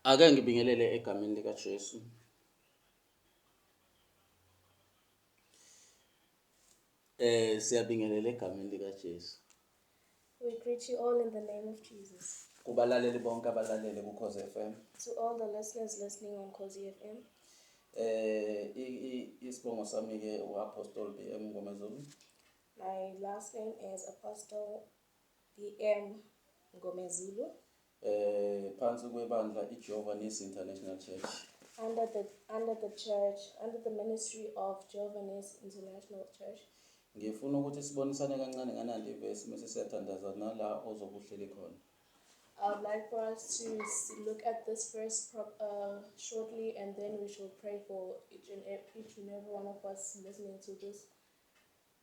Ake ngibingelele egameni likaJesu. Eh siyabingelela egameni likaJesu. We greet you all in the name of Jesus. Kubalaleli bonke abalalele kuKhoze FM. To all the listeners listening on Khoze FM. Eh isibongo sami ke uApostle BM Ngomezulu. My last name is Apostle BM Ngomezulu. Phansi kwebandla iJehova Nisi International Church. Under the, under the church, under the ministry of Jehovah Nisi International Church. Ngifuna ukuthi sibonisane kancane nganandi ivesi mese siyathandaza nala ozobe uhleli khona. I would like for us to s- look at this verse pro- uh, shortly and then we shall pray for each and, ev- each and every one of us listening to this.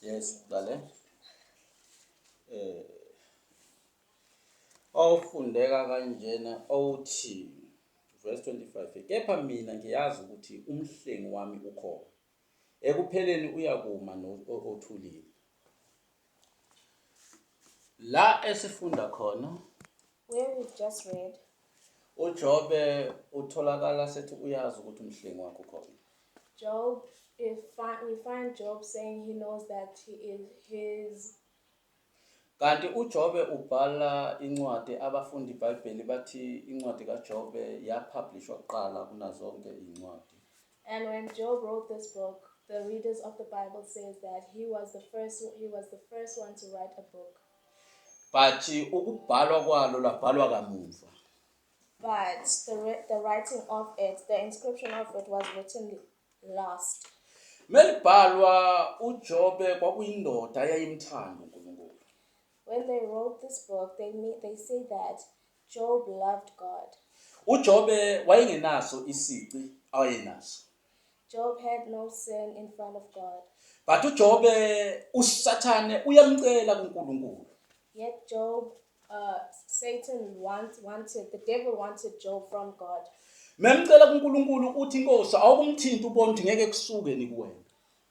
Yes, ngale. Eh. Awufundeka kanjena awuthi verse 25 kepha mina ngiyazi ukuthi umhlengi wami ukhona ekupheleni uyakuma othulile la esifunda khona Where we've just read. UJobe utholakala sethi uyazi ukuthi umhlengi wakhe ukhona. Job, if fi- we find Job saying he knows that he is his. Kanti uJobe ubhala incwadi abafundi iBhayibheli bathi incwadi kaJobe yapublishwa kuqala kunazonke izincwadi. And when Job wrote this book, the readers of the Bible says that he was the first he was the first one to write a book. But ukubhalwa kwalo labhalwa kamuva. But the, the writing of it, the inscription of it was written last. Melibhalwa uJobe kwakuyindoda eyayimthanda uNkulunkulu. When they wrote this book, they mean, they say that Job loved God. UJobe wayengenaso isici awayenaso. Job had no sin in front of God. But uJobe uSathane uyamcela kuNkulunkulu. Yet Job uh, Satan want, wanted the devil wanted Job from God. Memcela kuNkulunkulu uthi inkosi awukumthinta ubona ukuthi ngeke kusuke ni kuwena.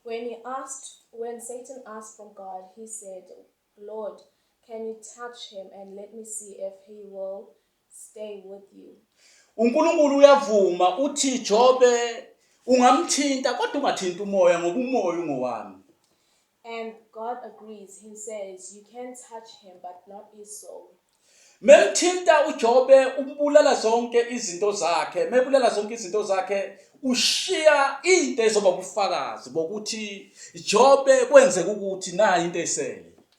When he asked when Satan asked from God he said Lord can you touch him and let me see if he will staying with you. UNkulunkulu uyavuma uthi Jobe ungamthinta kodwa ungathinta umoya ngoba umoya ungowami. And God agrees. He says, You can touch him, but not his soul. Memthinta uJobe umbulala zonke izinto zakhe, mebulala zonke izinto zakhe ushiya into ezoba ubufakazi bokuthi Jobe kwenzeka ukuthi nayi into esele.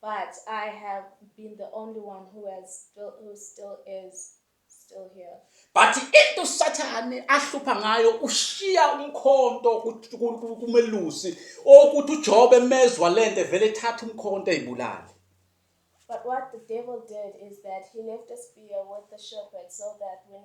But I have been the only one who has still, who still is still here. But into uSathane ahlupha ngayo ushiya umkhonto ku- ku- ku- kumelusi okuthi uJobe mezwa lento vele ethatha umkhonto ezibulale. But what the devil did is that he left a spear with the shepherd so that when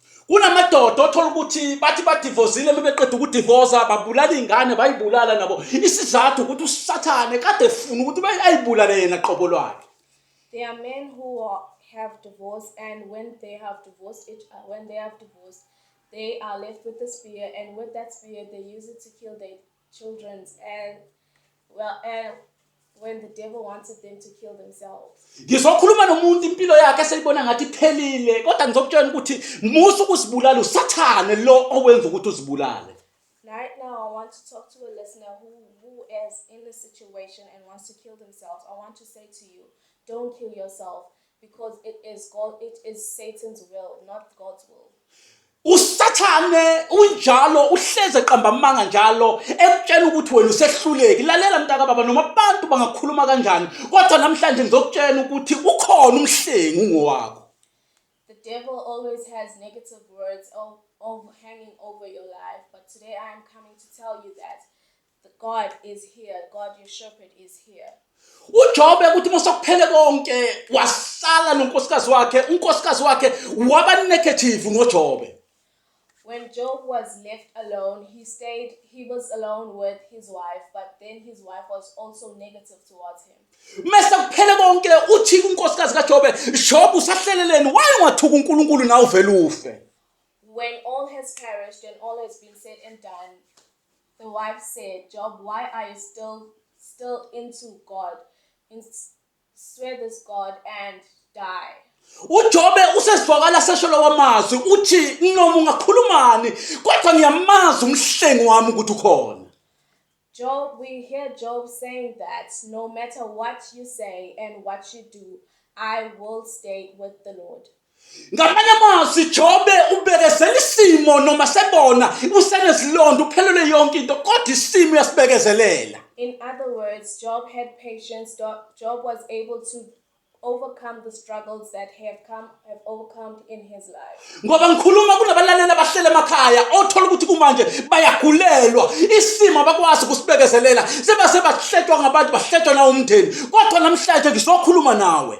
kunamadoda othola ukuthi bathi badivozile bebeqeda ukudivoza babulala ingane bayibulala nabo isizathu ukuthi usathane kade efuna ukuthi ayibulale yena qobo lwakhe There are men who are, have divorced, and when they have divorced, each, uh, when they have divorced, they are left with a spear, and with that spear, they use it to kill their children's and well and when the devil wanted them to kill themselves. Ngizokhuluma nomuntu impilo yakhe eseyibona ngathi iphelile kodwa ngizokutshela ukuthi musa ukuzibulala usathane lo owenza ukuthi uzibulale. Right now I want to talk to a listener who who is in this situation and wants to kill themselves. I want to say to you, don't kill yourself. Because it is God, it is Satan's will, not God's will. usathane unjalo uhleze qamba amanga njalo ekutshela ukuthi wena usehluleki lalela mntaka baba noma abantu bangakhuluma kanjani kodwa namhlanje ngizokutshela ukuthi ukhona umhlengi ungowakho The devil always has negative words of, of hanging over your life, but today I am coming to tell you that The God is here, God your shepherd is here. uJobe ukuthi masokuphele konke wahlala nonkosikazi wakhe unkosikazi wakhe waba negative ngoJobe When Job was left alone, he stayed, he was alone with his wife, but then his wife was also negative towards him. mese kuphele konke uthi kunkosikazi kaJobe Jobe usahleleleni why ungathuka uNkulunkulu nawe vele ufe When all has perished and all has been said and done, The wife said, Job, why are you still still into God? And s- swear this God and die. uJobe usezwakala sesholo wamazwi uthi noma ungakhulumani kodwa ngiyamazi umhlengi wami ukuthi ukhona Job, we hear Job saying that no matter what you say and what you do, I will stay with the Lord. ngamanye amazwi jobe ubekezela isimo noma sebona usenezilonda uphelelwe yonke into kodwa isimo uyasibekezelela In other words, Job had patience. Job was able to overcome the struggles that he have come have overcome in his life. ngoba ngikhuluma kunabalaleli abahlele emakhaya othola ukuthi kumanje bayagulelwa isimo abakwazi ukusibekezelela sebase bahletshwa ngabantu bahletshwa nawumndeni kodwa namhlanje ngizokhuluma nawe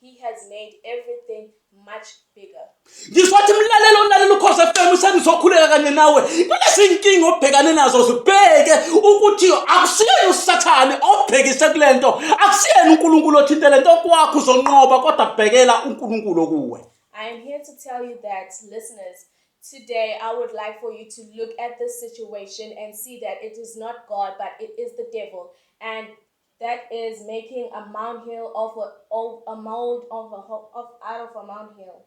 He has made everything much bigger. Ngisho wathi mlalelo olalela ukhosi FM sengizokhuleka kanye nawe. Kulezi inkinga obhekane nazo zibheke ukuthi akusiyena uSathane obhekise kulento, akusiyena uNkulunkulu othinte lento kwakho uzonqoba kodwa bhekela uNkulunkulu kuwe. I am here to tell you that listeners Today, I would like for you to look at this situation and see that it is not God, but it is the devil. And That is making a molehill of a, of a mold of a ho- of out of a molehill.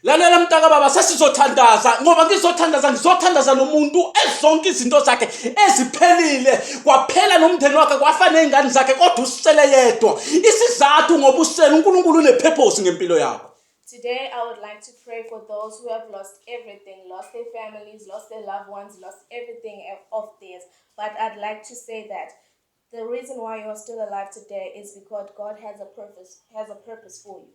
lalela mntaka baba sesizothandaza ngoba ngizothandaza ngizothandaza nomuntu ezonke izinto zakhe eziphelile kwaphela nomndeni wakhe kwafa nezingane zakhe kodwa usele yedwa isizathu ngoba usele unkulunkulu unepurpose ngempilo yakho Today, I would like to pray for those who have lost everything, lost their families, lost their loved ones, lost everything of theirs. But I'd like to say that The reason why you are still alive today is because God has a purpose has a purpose for you.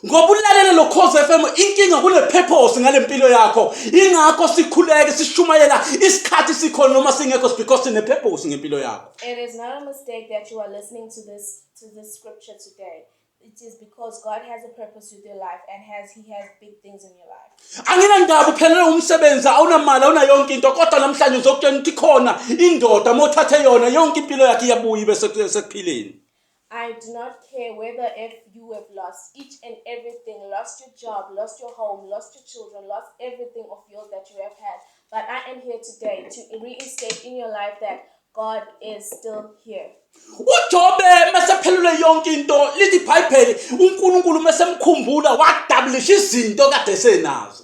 ngoba ulalele lo khosi fm inkinga kune-purpose ngale mpilo yakho ingakho sikhuleke sishumayela isikhathi sikhona noma singekho is because sine-purpose ngempilo yakho It is not a mistake that you are listening to this to this scripture today. It is because God has a purpose with your life and has He has big things in your life. anginandaba uphelele umsebenzi awunamali awuna yonke into kodwa namhlanje uzokutshela ukuthi khona indoda uma uthathe yona yonke impilo yakhe iyabuya ibe seku- sekuphileni I do not care whether if you have lost each and everything, lost your job, lost your home, lost your children, lost everything of yours that you have had. But I am here today to reinstate in your life that God is still here. ujobe mesephelule yonke into lithi ibhayibheli unkulunkulu mesemkhumbula wadabulisha izinto kade senazo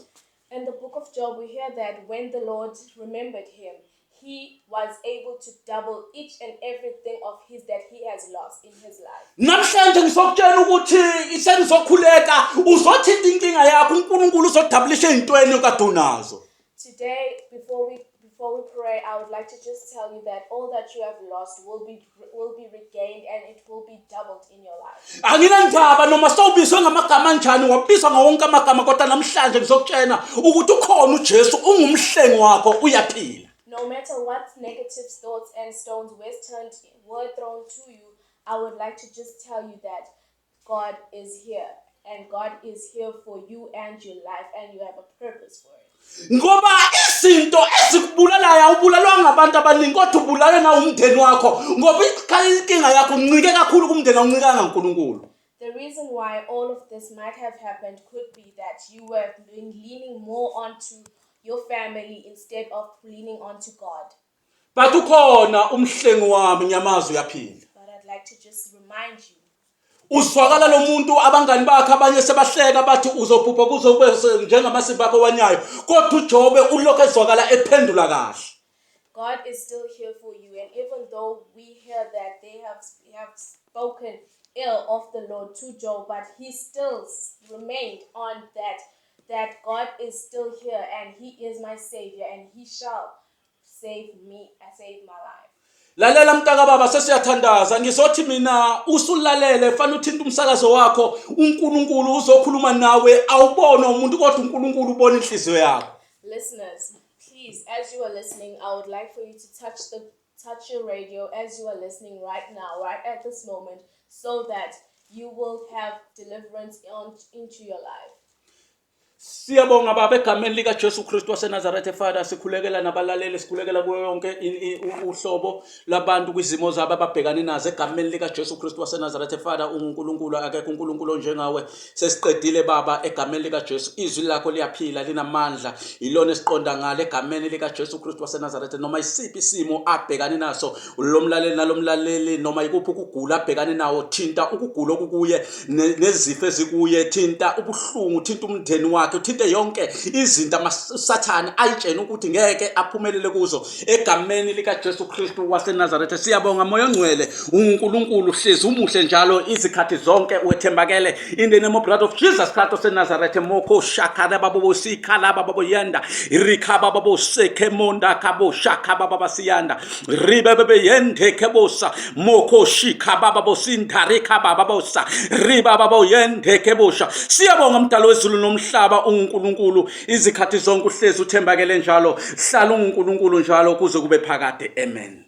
In the book of Job, we hear that when the Lord remembered him, he was able to double each and everything of his that he has lost in his life. Namhlanje ngizokutshela ukuthi isengizokhuleka uzothinta inkinga yakho uNkulunkulu uzodabulisha ezintweni okade unazo. Today before we before we pray I would like to just tell you that all that you have lost will be will be regained and it will be doubled in your life. Anginandaba noma sowubizwe ngamagama anjani wabizwa ngawonke amagama kodwa namhlanje ngizokutshena ukuthi ukhona uJesu ungumhlengi wakho uyaphila. No matter what negative thoughts and stones were turned were thrown to you, I would like to just tell you that God is here and God is here for you and your life and you have a purpose for it. Ngoba izinto ezikubulalayo awubulalwa ngabantu abaningi kodwa ubulalwe nawumndeni wakho ngoba inkinga yakho uncike kakhulu kumndeni awuncikanga uNkulunkulu. The reason why all of this might have happened could be that you were leaning more onto your family instead of leaning onto God. But ukhona umhlengi wami nyamazi uyaphila. But I'd like to just remind you uzwakala lo muntu abangani bakhe abanye sebahleka bathi uzobhubha kuze ube njengamasimba akho wanyayo kodwa ujobe ulokhu ezwakala ephendula kahle God is still here for you. And even though we hear that they have, have spoken ill of the Lord to Job, but he still remained on that, that God is still here and he is my savior and he shall save me and save my life. lalela mntaka baba sesiyathandaza ngizothi mina usulalele fanele uthinte umsakazo wakho unkulunkulu uzokhuluma nawe awubona umuntu kodwa unkulunkulu ubona inhliziyo yakho listeners Please, as you are listening, I would like for you to touch the touch your radio as you are listening right now, right at this moment, so that you will have deliverance on, into your life. Siyabonga baba egameni lika Jesu Kristu waseNazaretha Father sikhulekela nabalaleli sikhulekela kuyo yonke uhlobo labantu kwizimo zabo ababhekane nazo egameni likaJesu Kristu waseNazaretha Father unguNkulunkulu akekho uNkulunkulu onjengawe sesiqedile baba egameni likaJesu izwi lakho liyaphila linamandla yilona esiqonda ngale egameni likaJesu Kristu waseNazaretha noma isiphi isimo abhekane naso lomlaleli nalomlaleli noma ikuphi ukugula abhekane nawo thinta ukugula okukuye nezifo ezikuye thinta ubuhlungu thinta umndeni wakhe uthinte yonke izinto amasathane ayitshene ukuthi ngeke aphumelele kuzo egameni likaJesu Kristu waseNazaretha siyabonga moya ongcwele uNkulunkulu hlezi umuhle njalo izikhathi zonke wethembakele in the name of blood of Jesus Christ oseNazaretha moko shakara babo sikhala babo yenda rikhaba babo sekhe monda kabo shakhaba baba siyanda ribe bebe yende kebosa moko shikha baba bosinda rikhaba babo sa riba babo yende kebosha siyabonga mdalo wezulu nomhlaba uNkulunkulu izikhathi zonke uhlezi uthembakele njalo hlala ungunkulunkulu njalo kuze kube phakade amen